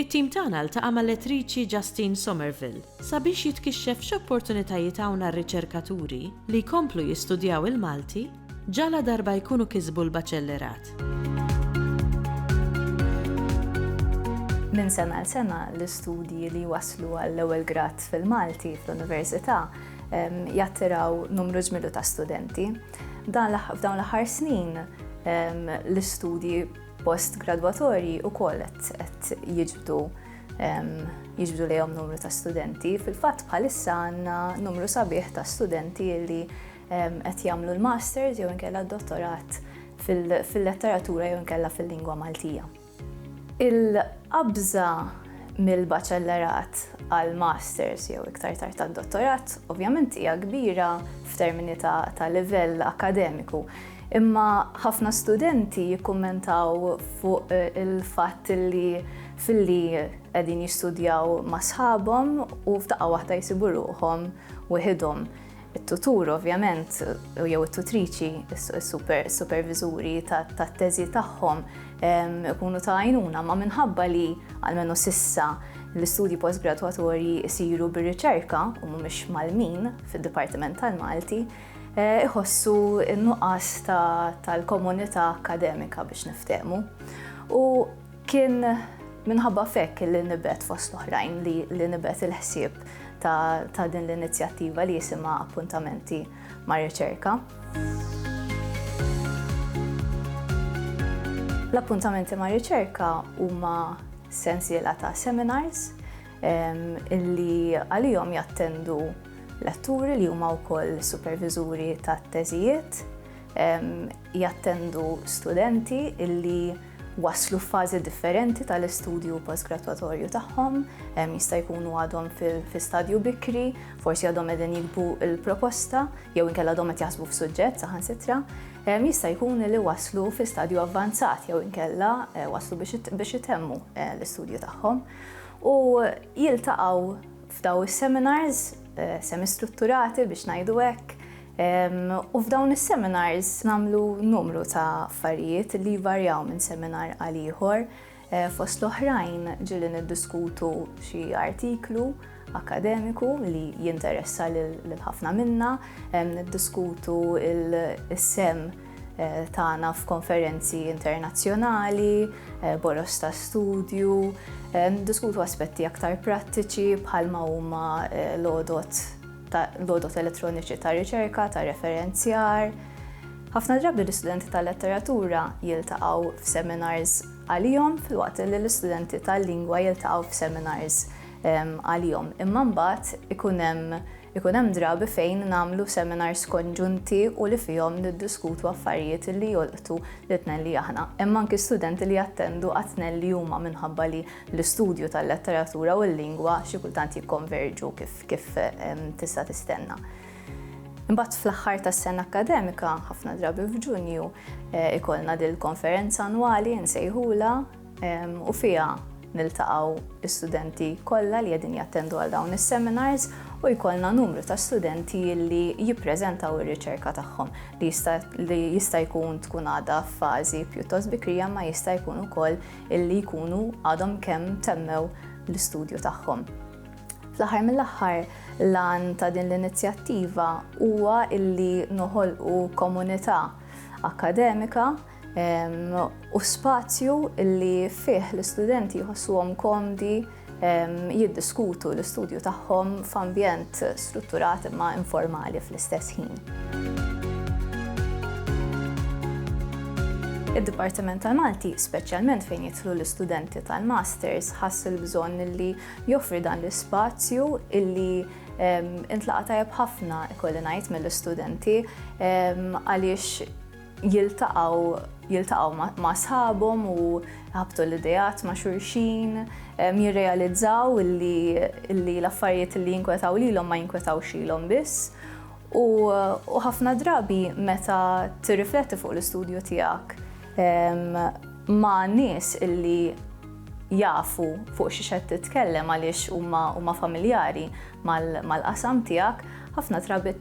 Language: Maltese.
It-tim tagħna ltaqa' mal-Lettriċi Justine Somerville sabiex jitkixxef x'opportunitajiet hawn għar-riċerkaturi li jkomplu jistudjaw il-Malti ġaladarba jkunu kisbu l-Baċellerat. Minn sena għal sena l-istudji li jwasslu għall-ewwel grad fil-Malti fl-Università jattiraw numru ġmilu ta' studenti. F'dawn l-aħħar snin l-istudji Post-gradwatorji wkoll qed jiġbdu jiġbdu lejhom numru ta' studenti. Fil-fatt bħalissa għandna numru sabiħ ta' studenti li qed jagħmlu l-masters jew inkella d-dottorat fil-letteratura jew inkella fil-lingwa Maltija. Il-qabża mill-baċellerat għal masters jew iktar tard tad-dottorat ovvjament hija kbira f'termini ta' livell akademiku. Imma ħafna studenti jikkummentaw fuq il-fatt li filli qegħdin jistudjaw ma' sħabhom u f'daqqa waħda jsibu ruħhom weħidhom. It-tutur ovvjament jew it-tutriċi, is-superviżuri tat-teżi tagħhom ikunu ta' għajnuna, imma minħabba li, almenu s'issa, l-istudji postgradwatorji jsiru bir-riċerka u mhumiex mgħallmin fid-Dipartiment tal-Malti, iħossu n-nuqqas tal-komunità akademika biex niftehmu. U kien minħabba fekk li nibet fost oħrajn li nibet il-ħsieb ta' din l-inizjattiva li jisima appuntamenti ma' riċerka. L-appuntamenti ma' riċerka huma sensiela ta' seminars illi għalihom jattendu letturi li huma wkoll superviżuri tat-teżijiet, jattendu studenti illi waslu f'fażi differenti tal-istudju postgradwatorju tagħhom, jista' jkunu għadhom fi stadju bikri, forsi għadhom qegħdin jikbu l-proposta jew inkella għadhom qed jaħsbu f'suġġett saħansitra, jista' jkun li waslu fi stadju avvanzat jew inkella waslu biex itemmu l-istudju tagħhom. u jiltaqgħu f'daw is-seminars semistrutturati biex ngħidu hekk. U f'dawn is-seminars nagħmlu numru ta' affarijiet li jvarjaw minn seminar għal ieħor. Eh, fost l-oħrajn ġili niddiskutu xi artiklu akkademiku li jinteressa lil ħafna minna, niddiskutu il-sem eh, tagħna f'konferenzi internazzjonali, eh, boros ta' studju, diskutu aspetti aktar prattiċi bħalma huma eh, l-odot l-odot elettroniċi ta' riċerka, ta' referenzjar. Ħafna drabi l-istudenti tal-letteratura jiltaqgħu f'seminars għalihom fil-waqt li l-istudenti tal-lingwa jiltaqgħu f'seminars għalihom. Imma mbagħad ikun hemm ikun hemm drabi fejn nagħmlu seminars konġunti u li fihom niddiskutu affarijiet li jolqtu li tnelli aħna. Hemm anki studenti li jattendu għat-tnelli huma minħabba li l-istudju tal-letteratura u l-lingwa xi kultant jikkonverġu kif kif tista' tistenna. Imbagħad fl-aħħar tas-sena akkademika, ħafna drabi f'Ġunju, ikollna dil-konferenza annwali nsejħula u fiha niltaqgħu l-istudenti kollha li qegħdin jattendu għal dawn is-seminars u jkollna numru ta' studenti li jippreżentaw ir-riċerka tagħhom li jista' li jista' jkun tkun għadha f'fażi pjuttost bikrija ma jista' jkun ukoll illi jkunu għadhom kemm temmew l-istudju tagħhom. Fl-aħħar mill-aħħar lan ta' din l-inizjattiva huwa illi noħolqu komunità akademika u spazju li fih l-istudenti jħossuhom komdi jiddiskutu l-istudju tagħhom f'ambjent strutturat imma informali fl-istess ħin. Id-Dipartiment tal-Malti, speċjalment fejn jidħlu l-istudenti tal-Masters, ħass il-bżonn li joffri dan l-ispazju illi intlaqa tajab ħafna ikolli ngħid mill-istudenti għaliex jiltaqgħu jiltaqgħu ma' sħabhom u jħabbtu l-ideat ma' xulxin, jirrealizzaw li l-affarijiet li jinkwetaw lilhom ma jinkwetawx lilhom biss. U ħafna drabi meta tirrifletti fuq l-istudju tiegħek ma' nies illi jafu fuq xiex qed titkellem għaliex huma huma familjari mal-qasam tiegħek, ħafna drabi